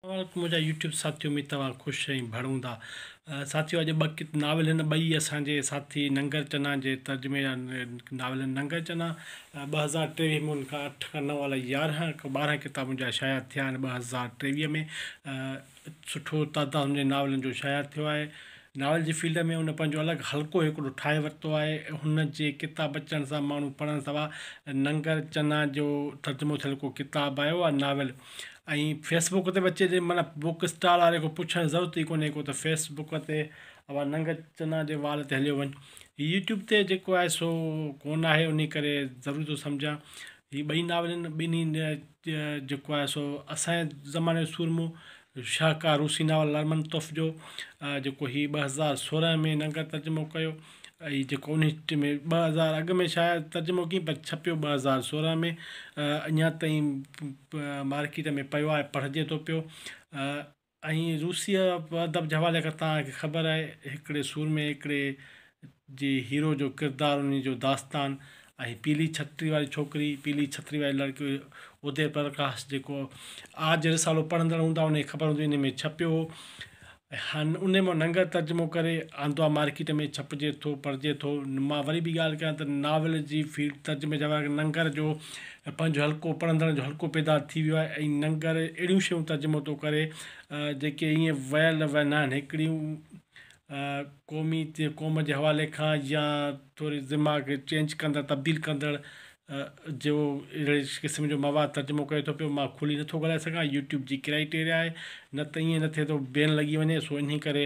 سلام منهنجا يوٽيوب ساٿيو اميد توهان خوش ۽ ڀڙ هوندا ساٿيو اڄ ٻه ناول هن ٻئي اسان جي ساٿي ننگر چنا جي ترجمي جا ناول آهن ننگر چنا ٻه هزار ٽيويهه ۾ ان کان اٺ کان نو الاء يارهن کان ٻارهن ڪتاب ان جا شايع ٿيا آهن ٻه هزار ٽيويهه ۾ سٺو تعداد ان جي ناولن جو شايع ٿيو آهي ناول جي فيلڊ ۾ ان پنهنجو الڳ حلقو هڪڙو ٺاهي ورتو آهي هن جي ڪتاب اچڻ سان ماڻهو پڙهڻ سوا ننگر چنا جو ترجمو ٿيل ڪو ڪتاب آيو آهي ناول ۽ فيس بڪ تي به اچي ٿي معنيٰ بڪ اسٽال واري کان پڇڻ ضرورت ئي ڪونهي ڪو ته فيس بڪ تي اوهان ننگ چنا جي وال تي هليو وڃ هي يوٽيوب تي جيڪو آهي سو ڪونهي آهي انهي ڪري ضروري ٿو سمجهان هي ٻئي ناولن ٻنهي جيڪو آهي سو اسانجي زماني جو سورمو شاهڪار روسي ناول لرمنتوف جو جيڪو هي ٻه هزار سورهن ۾ ننگ ترجمو ڪيو اي جيڪو انهي ٽي ۾ ٻه هزار اڳ ۾ شايع ترجمو ڪيم پر ڇپيو ٻه هزار سورهن ۾ اڃا تائين مارڪيٽ ۾ پيو آهي پڙهجي ٿو پيو ۽ روسيء ادب جي حوالي کان تان کي خبر آهي هڪڙي سورمي هڪڙي جي هيرو جو ڪردار انهي جو داستان ۽ پيلي ڇتري واري ڇوڪري پيلي ڇتري واري لڙڪي ادي پرڪاش جيڪو آج رسالو پڙهندڙ هوندا انهن کي خبر هوندي انهي ۾ ڇپيو هو هن انهي مان ننگر ترجمو ڪري آندو آ مارڪيٽ ۾ ڇپجي ٿو پڙهجي ٿو مان وري ٻي ڳالهه ڪيان ته ناول جي فيلڊ ترجمي جا ورق ننگر جو پنهنجو حلقو پڙهندڙن جو حلقو پيدا ٿي ويو آهي ۽ ننگر اهڙيون شيون ترجمو ٿو ڪري جيڪي ايئن ويل ويل ناهن هڪڙيون قومي قوم جي حوالي کان يا ٿوري دماغ چينج ڪندڙ تبديل ڪندڙ جو اهڙي قسم جو مواد ترجمو ڪري ٿو پيو مان کلي نٿو ڳالهائي سگهان يوٽيوب جي ڪرائيٽيريا آهي نه ته ائين نه ٿئي ٿو بين لڳي وڃي سو انهي ڪري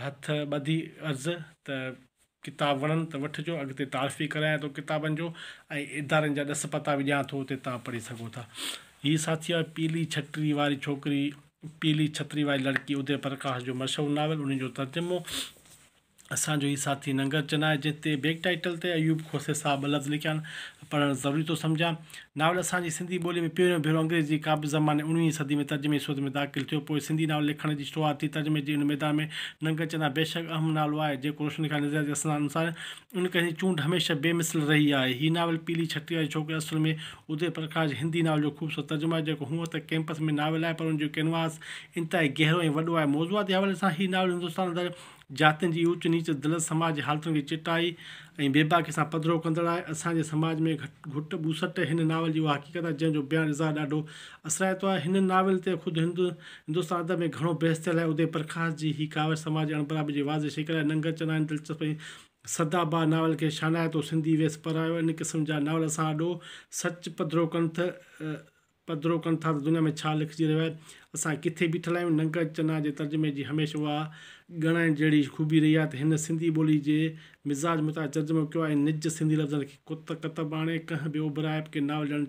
هٿ ٻڌي عرض ته ڪتاب وڻن ته وٺجو اڳتي تعارف به ڪرايان ٿو ڪتابن جو ۽ ادارن جا ڏس پتا به ڏيان ٿو اتي توهان پڙهي سگهو ٿا هي ساٿي آهي پيلي ڇٽري واري ڇوڪري پيلي ڇتري واري لڙڪي ادي پرڪاش جو مشهور ناول انهي جو ترجمو اسان جو هي ساٿي ننگر چنا آهي جنهن تي بيڪ ٽائيٽل تي ايوب کوسي صاحب ٻه لفظ لکيا آهن، پڙهڻ ضروري ٿو سمجهان. ناول اسان جي سنڌي ٻوليء ۾ پهريون ڀيرو انگريزيء جي قابض زماني اوڻويهين صديء ۾ ترجمي جي صورت ۾ داخل ٿيو. پوء سنڌي ناول لکڻ جي شروعات ٿي. ترجمي جي ان ميدان ۾ ننگر چنا بيشڪ اهم نالو آهي، جيڪو روشن خيال نظرياتي اسناد انوسار ان ڪري هن جي چونڊ هميشه بي مثل رهي آهي. هي ناول پيلي ڇٽي واري ڇوڪري اصل ۾ ادي پرڪاش جي هندي ناول جو خوبصورت ترجمو آهي، جيڪو هونئن ته ڪئمپس ۾ ناول آهي پر ان جو ڪينواس انتهائي گهرو ۽ وڏو آهي. موضوعاتي حوالي سان هي ناول هندستان اندر جاتين جي اوچ نيچ، دلس سماج جي حالتن کي چٽائي ۽ بيباڪي سان پڌرو ڪندڙ آهي. اسان جي سماج ۾ گهٽ ٻوسٽ هن ناول جي اها حقيقت آهي، جنهن جو بيان اظهار ڏاڍو اثرائتو آهي. هن ناول تي خود هند هندستان ادب ۾ گهڻو بحث ٿيل آهي. ادي پرڪاش جي هي ڪاوش سماجي اڻبرابري جي واضح شڪل آهي. ننگر چنائن دلچسپ ۽ سدا باهه ناول کي شانائتو سنڌي ويس پرايو. ان قسم جا ناول اسان آڏو سچ پڌرو ڪن تھ پڌرو ڪن ٿا ته دنيا ۾ ڇا لکجي رهيو آهي. اسان ڪٿي بيٺل آهيون. ننگهه چنا جي ترجمي جي هميشھ اها ڳڻائڻ جهڙي خوبي رهي آهي ته هن سنڌي ٻولي جي مزاج مطابق ترجمو ڪيو آهي نج سنڌي لفظن کي ڪت ڪتب آڻي ڪنهن به اوڀرائپ کي ناول ڏيڻ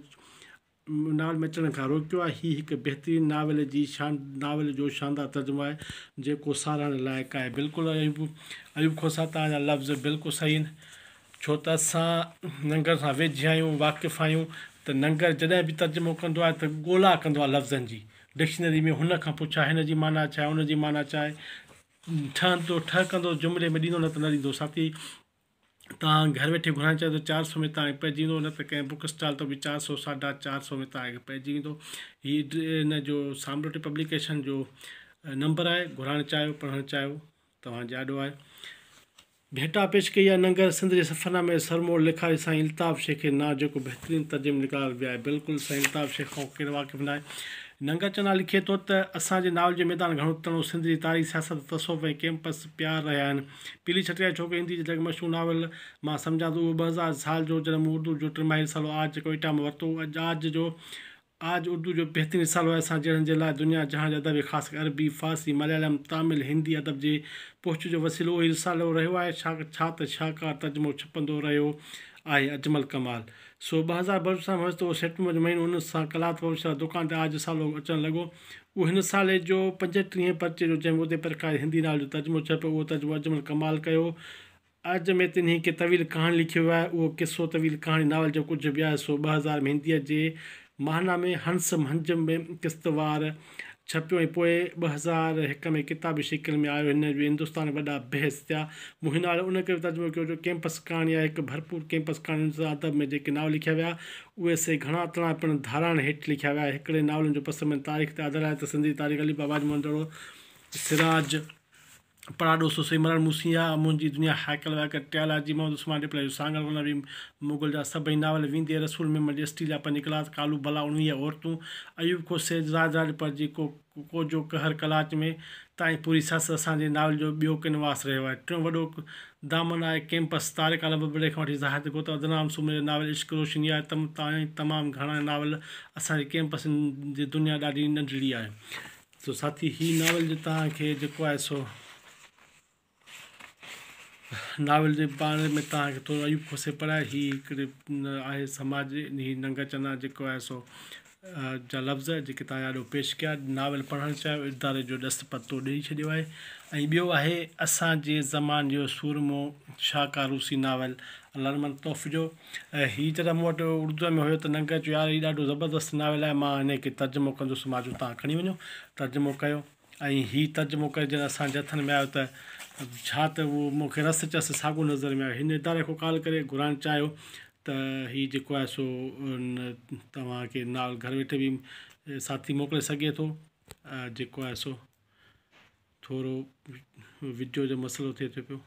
ناول ۾ اچڻ کان روڪيو آهي هي هڪ بهترين ناول جي شان ناول جو شاندار ترجمو آهي جيڪو ساراهڻ لائق آهي بلڪل ايوب ايوب کوسا تان جا لفظ بلڪل صحيح آهن. ڇو ته اسان ننگر سان ويجهه آهيون، واقف آهيون ته ننگر جڏهن به ترجمو ڪندو آهي ته ڳولا ڪندو آهي لفظن جي، ڊڪشنري ۾ هن کان پڇا هن جي معنيٰ ڇا آهي، هن جي معنيٰ ڇا آهي، ٺهندو ٺهڪندو جملي ۾ ڏيندو نه ته نه ڏيندو، ساٿي توهان گهر ويٺي گهرائڻ چاهيو ته چار سو ۾ توهان کي پئجي ويندو نه ته ڪنهن بوڪ اسٽال تان به چار سو ساڍا چار سو ۾ توهان کي پئجي ويندو هي ان جو سامروٽي پبليڪيشن جو نمبر آهي گهرائڻ چاهيو پڙهڻ چاهيو توهان جي آڏو آهي. ڀيٽا پيش ڪئي آهي ننگر سنڌ جي سفرنامي سرموڙ لکاري سائين الطاف شيخ کي نازڪ بهترين ترجمي نگار به آهي بلڪل سائين الطاف شيخ کان ڪير واقف ناهي ننگر چنا لکي ٿو ته اسان جي ناول جو ميدان گهڻو تڻو سنڌ جي تاريخ سياست تصوف ۽ ڪيمپس پيار رهيا آهن پيلي ڇٽڪاري ڇوڪري هندي جي لڳ مشهور ناول مان سمجهان ٿو اهو ٻه هزار سال جو جڏهن مون اردو جو ٽي ماهي رسالو آج ڪوئيٽا مان ورتو هو اڄ آج جو آج اردو جو بهترين رسالو آهي اسان جهڙن جي لاء دنيا جهان جي ادب خاص ڪري عربي، فارسي، مليالم، تامل، هندي ادب جي پهچ جو وسيلو اهو ئي رسالو رهيو آهي ڇا ته شاهڪار ترجمو ڇپندو رهيو آهي اجمل ڪمال سو ٻه هزار بلوچستان ۾ هيس ته اهو سيپٽمبر جو مهينو ان سان قلات پبلشر جي دڪان تي آج رسالو اچڻ لڳو اهو هن رسالي جو پنجٽيهين پرچي جو جنهن ۾ ادي پرڪاش جي هندي ناول جو ترجمو ڇپيو اهو ترجمو اجمل ڪمال ڪيو عرض ۾ تن هڪ طويل ڪهاڻي لکي ويو آهي. اهو قصو طويل ڪهاڻي ناول جو ڪجهه به آهي، سو ٻه هزار ۾ هنديء جي ماهنامي هنس مهنج ۾ قسط وار ڇپيو ۽ پوء ٻه هزار هڪ ۾ ڪتابي شڪل ۾ آيو. هن جو هندستان ۾ وڏا بحث ٿيا. مون هن ناول ان ڪري ترجمو ڪيو جو ڪئمپس ڪهاڻي آهي، هڪ ڀرپور ڪئمپس ڪهاڻي هندستاني ادب ۾ جيڪي ناول لکيا ويا، اهي سي گهڻا تڻا پڻ ڌاراڻ هيٺ لکيا ويا. هڪڙي ناولن جو پس منظر تاريخ تي آڌاريل آهي ته سنڌ جي تاريخ علي بابا جي مندڙو، سراج، پراڏو سو سيمرڻ مون سين آ، منهنجي دنيا هائيڪل وائيڪل ٽيال آ، جي محمد عثمان ڏيپلائي جو سانگهڙ ورنه به مغل جا سڀئي ناول ويندي رسول ميمڻ جي اسٽيل جا پنج ڪلاس ڪالو ڀلا اڻويهه عورتون ايوب کون سيد راڄ راڄ پر جي ڪو ڪو جو قهر قلاچ ۾ تائين پوري سس اسان جي ناول جو ٻيو ڪينواس رهيو آهي ٽيون وڏو دامن آهي ڪيمپس طارق عالم ببلڙي کان وٺي زاهد گوتا عدنان سومري جا ناول عشق روشني آهي تم تائين تمام گهڻا ناول اسان جي ڪيمپس جي دنيا ڏاڍي ننڍڙي آهي سو ساٿي هي ناول جو توهان کي جيڪو آهي سو ناول جي باري ۾ توهان کي ٿورو ايوب کوسي پڙهائي هي هڪڙي آهي سماج هي ننگ چنا جيڪو آهي سو جا لفظ جيڪي توهان آڏو پيش ڪيا ناول پڙهڻ چاهيو اداري جو ڏس پتو ڏئي ڇڏيو آهي ۽ ٻيو آهي اسان جي زمان جو سورمو شاهه ڪاروسي ناول لرمن توف جو ۽ هي ته مون وٽ اردوء ۾ هيو ته ننگر چيو يار هي ڏاڍو زبردست ناول آهي مان هن کي ترجمو ڪندس مان چيو توهان کڻي وڃو ترجمو ڪيو ۽ هي ترجمو ڪري جڏهن اسان جي هٿن ۾ آيو ته ڇا ته اهو مون کي رس چس ساڳو نظر ۾ آيو هن اداري کان ڪال ڪري گهرائڻ چاهيو ته هي جيڪو آهي سو توهان کي ناول گهر ويٺي به ساٿي موڪلي سگهي ٿو جيڪو آهي سو ٿورو وڊيو جو مسئلو ٿئي ٿو پيو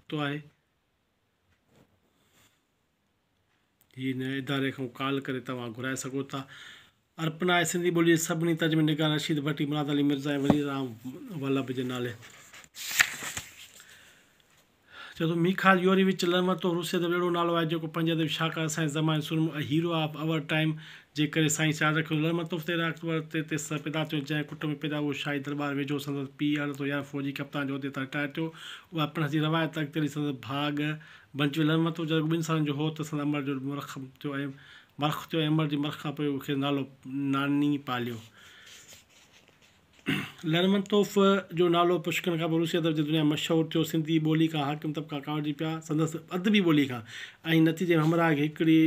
تو آهي هن اداري کان ڪال ڪري توهان گهرائي سگهو ٿا. ارپنا آهي سنڌي ٻوليء جي سڀني ترجمه نگارن رشيد ڀٽي، مراد علي مرزا ۽ ولي رام ولڀ جي نالي. چئي ٿو ميخائيل يوريويچ لرمنتوف روسيه ادب اهڙو نالو آهي جيڪو پنهنجي ادبي شاهڪار سائنس زمان سورمو ۽ هيرو آف آور ٽائيم جنهن ڪري سائين سيال رخ جو لڙمر تحفي تي راکت ور تي تيس سر پيدا ٿيو، جنهن ڪٽ ۾ پيدا اهو شاهي درٻار ويجهو سندس پيء اڻ تو يار فوجي ڪپتان جي عهدي تان رٽائر ٿيو. اها پڻس جي روايت اڳتي هلي سندس ڀاء ڳهه بنچ جو لڙمر تحفي جو رڳو ٻن سالن جو هو ته سندس امڙ جو مرخ ٿيو ۽ مرخ ٿيو ۽ امڙ جي مرخ کان پوء اهو کيس نالو ناني پاليو. لڙمر تحفي جو نالو پشڪڻ کان پوء روسي ادب جي دنيا ۾ مشهور ٿيو. سنڌي ٻولي کان حاڪم طبقا ڪاوڙجي پيا سندس ادبي ٻولي کان ۽ نتيجي ۾ همراهه کي هڪڙي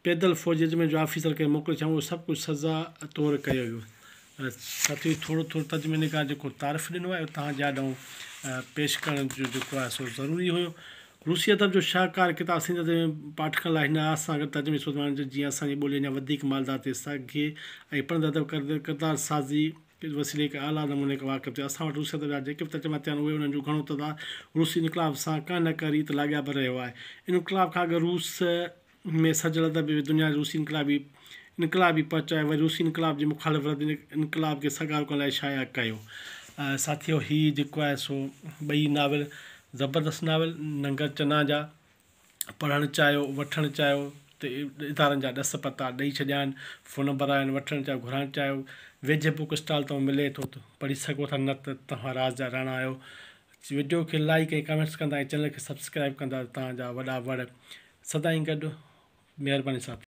پيدل فوج جي ترجمي جو آفيسر ڪنهن موڪلي ڇا اهو سڀ ڪجهه سزا طور ڪيو ويو. ساٿيو ٿورو ٿورو ترجمي نگار جيڪو تعارف ڏنو آهي اهو توهان جي آڏو پيش ڪرڻ جو جيڪو آهي سو ضروري هيو. روسي ادب جو شاهڪار ڪتاب سنڌي ادب جي پاٺڪن لاء هن آس سان گڏ ترجمي سوڌ ماڻڻ جو جيئن اسان جي ٻولي اڃا وڌيڪ مالدار ٿئي سگهي ۽ پڙهندڙ ادب ڪردار سازي پير وسيلي هڪ اعليٰ نموني کي واقف ٿيو. اسان وٽ روسيت جا جيڪي به ترجما ٿيا آهن، اهي انهن جون گهڻو تعداد روسي انقلاب سان ڪنهن نه ڪنهن ريت لاڳاپيل رهيو آهي. انقلاب کان اڳ روس ۾ سرجيل ادب به دنيا جي روسي انقلابي انقلاب ئي پهچو آهي، وري روسي انقلاب جي مخالف رد ان انقلاب کي سگهارو ڪرڻ لاء شايع ڪيو. ساٿيو هي جيڪو آهي سو ٻئي ناول زبردست ناول ننگر چنا جا. پڙهڻ چاهيو، وٺڻ چاهيو ته ادارن جا ڏس پتا ڏئي ڇڏيا آهن، فون نمبر آهن، وٺڻ چاهيو گهرائڻ چاهيو ويجهه بوڪ اسٽال تان ملي ٿو ته پڙهي سگهو ٿا نه ته توهان راز جا راڻا آهيو. وڊيو کي لائيڪ ۽ ڪمينٽس ڪندا ۽ چينل کي سبسڪرائيب ڪندا ته توهان جا وڏا وڙ سدائين گڏ مهرباني ساٿيو.